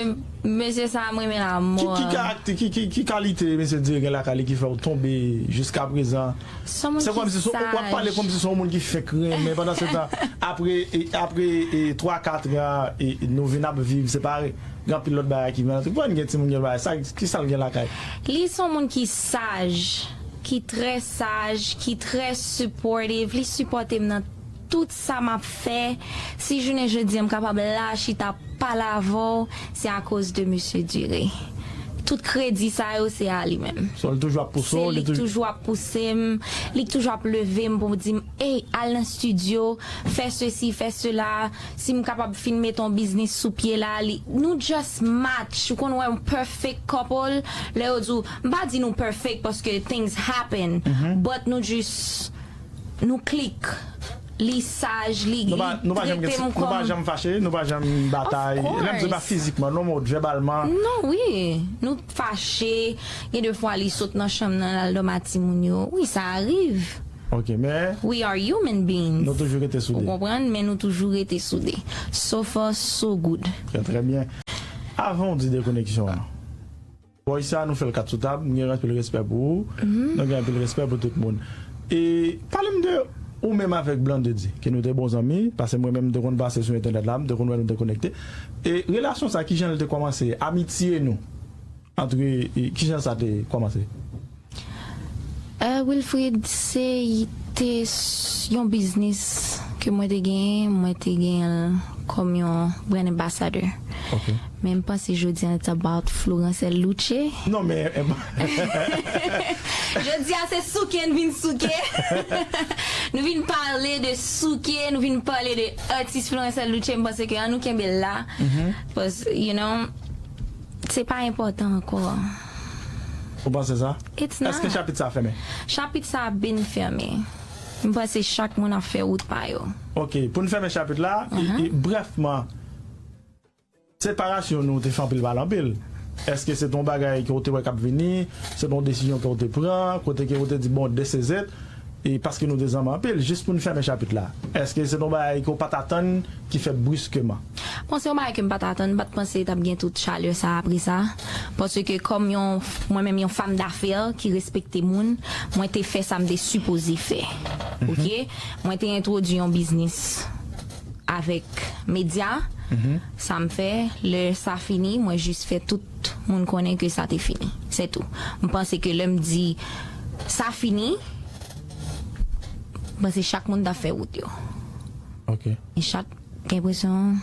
Mesye sa a m renmen l a mò. Ki kalite mesye Dire gen lakay li ki fè ou tonbe jiskaprezan? Se kòmsi se w ap pale kòmsi se yon moun ki fenk renmen pandansetan apre twa katran nou vin ap viv separe gen anpil lòt bagay ki vin antre. Konbyen gen timoun gen bagay? Ki sa l gen lakay? Li se yon moun ki saj, ki trè saj, ki trè supportive, li sipòte m nan. Tout sa map fè, si jounen jodi an m kapab la chita pale avè w, se akoz de Mesye Duré. Tout kredi sa yo se a li menm. Son l toujou ap pouse w, li toujou. Se li k toujou ap pouse m, li k toujou ap leve m pou di m, ey al nan studio, fè sesi, fè sela, si m kapab fin mete yon biznis sou pye la, li, nou just match, ou konn wè yon perfect couple, lè yo di w, m pa di nou perfect paske things happen, but nou just. Nou click li saj li tretem kom Nou pa janm fache nou pa janm batay lèm di pa fizikman non mot vèbalman Non wi nou t fache gen de fwa li sot nan chanm nan lal dòm a timoun yo wi sa ariv Ok men We are human beings Nou toujou rete soude Ou konprann men nou toujou rete soude So far so good Trè trè byen Avan w di dekoneksyon an. Bòy sa nou fèl kat sou tab m gen anpil respè pou ou mwen gen anpil respè pou tout moun e palem de ou menm avèk Blandedy ke nou te bon zanmi pase mwen menm m te konn pase sou entènèt la m te konn wè nou te konekte e relasyon sa kijan l te kòmanse amitye nou antre kijan sa te kòmanse. Ahh Wilfrid se te yon biznis ke mwen te genyen, mwen te genyenl kòm yon brand ambassador. Ok. Men m panse jodi an it's about Florancel Luce. Non men eh. Jodi a se souke n vin souke. Nou vin pale de souke, nou vin pale de atis Florancel Luce, m panse ke an nou kenbe l la. Cause you know se pa enpòtan ankò. Ou panse sa? It's not. Eske chapit sa fèmen? Chapit sa ap byn fèmen. M panse chak moun ap fè wout pa yo. Ok, pou n fèmen chapit la, brèfman, separasyon nou te fè anpil pale anpil. Eske se te yon bagay ke w te wè k ap vini? Se te yon desizyon ke w te pran? Kote ke w te di bon this is it? E paske nou te zanmi anpil, jis pou n fèmen chapit la. Èske se t on bagay ke w pa t atann ki fèt briskeman? Bon, se yon bagay ke m pa t atann. M pa t panse t ap gen tout chalè sa a apre sa. Paske kòm yon, mwen menm yon fam dafè ki respekte moun, mwen te fè sa m te sipoze fè. Ok? Mwen te entwodui yon biznis avèk medya. Sa m fè, lè sa fini, mwen jis fè tout moun konnen ke sa te fini. Sètou. M panse ke lè m di. Sa fini, m panse chak moun ta fè wout yo. Ok. E chak gen enpresyon.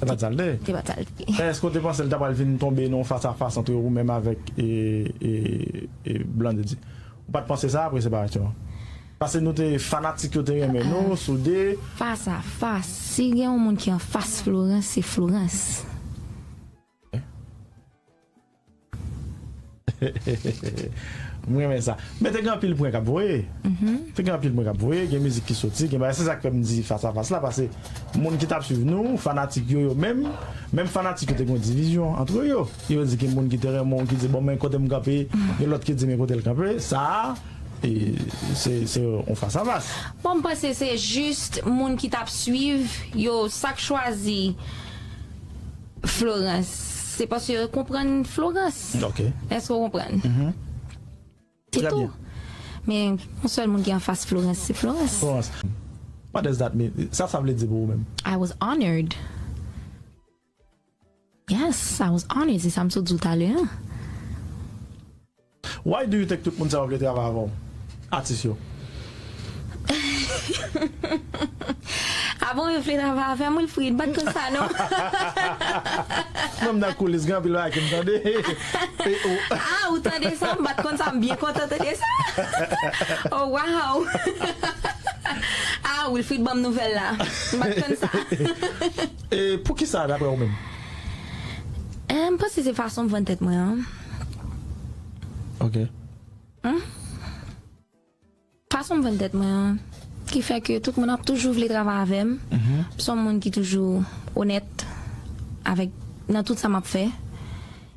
Se pa t sa l te. Se pa t sa l te. Èske w te panse l ta pral vin tonbe nan yon fas a fas antre ou menm avèk Blondedy? Ou pa t panse sa apre separasyon an? Pase nou te fanatik yo te renmen nou, soude. Fas a fas, si gen yon moun ki anfas Florence, se Florence. M renmen sa Men te gen anpil prank ap voye Te gen anpil prank ap voye Gen mizik ki soti Gen bagay Se sa k fè m di Fas a Fas la Pase moun ki t ap swiv nou Fanatik yo yo menm Menm fanatik yo te gen yon divizyon antre yo Yo di gen moun ki te renmen w Ki di bon men kote m kanpe Gen lòt ki di men kote l kanpe Sa a e se se yon fas a fas Bon m panse se jis moun ki t ap swiv yo Sa k chwazi Florans, Se paske yo konprann Florans. Ok. Èske ou konprann? Mh. Se Trè tou. byen. Men, yon sèl moun ki anfas Florans, se Florans. Florans, What does that mean? Sa sa vle di pou ou menm? I was honored. Yes, I was honored, se sa m sot di w talè an. Why do you think tout moun sa yo vle travay avèw? Atis yo. Ah bon yo vle travay avèm Wilfrid, m pat konn sa non. Mwen m nan koulis gen anpil bagay kem tande e ou. Ah ou tande sa, m pat konn sa, m byen kontan tande sa. Oh wow. Ah Wilfrid banm nouvèl la, m pat konn sa. E poukisa daprè ou menm? Eh m panse se fason m vann tèt mwen an. Ok. Hum? Fason m jwenn tèt mwen an, ki fè ke tout moun ap toujou vle travay avè m, m s on moun ki toujou onèt avèk nan tout sa m ap fè.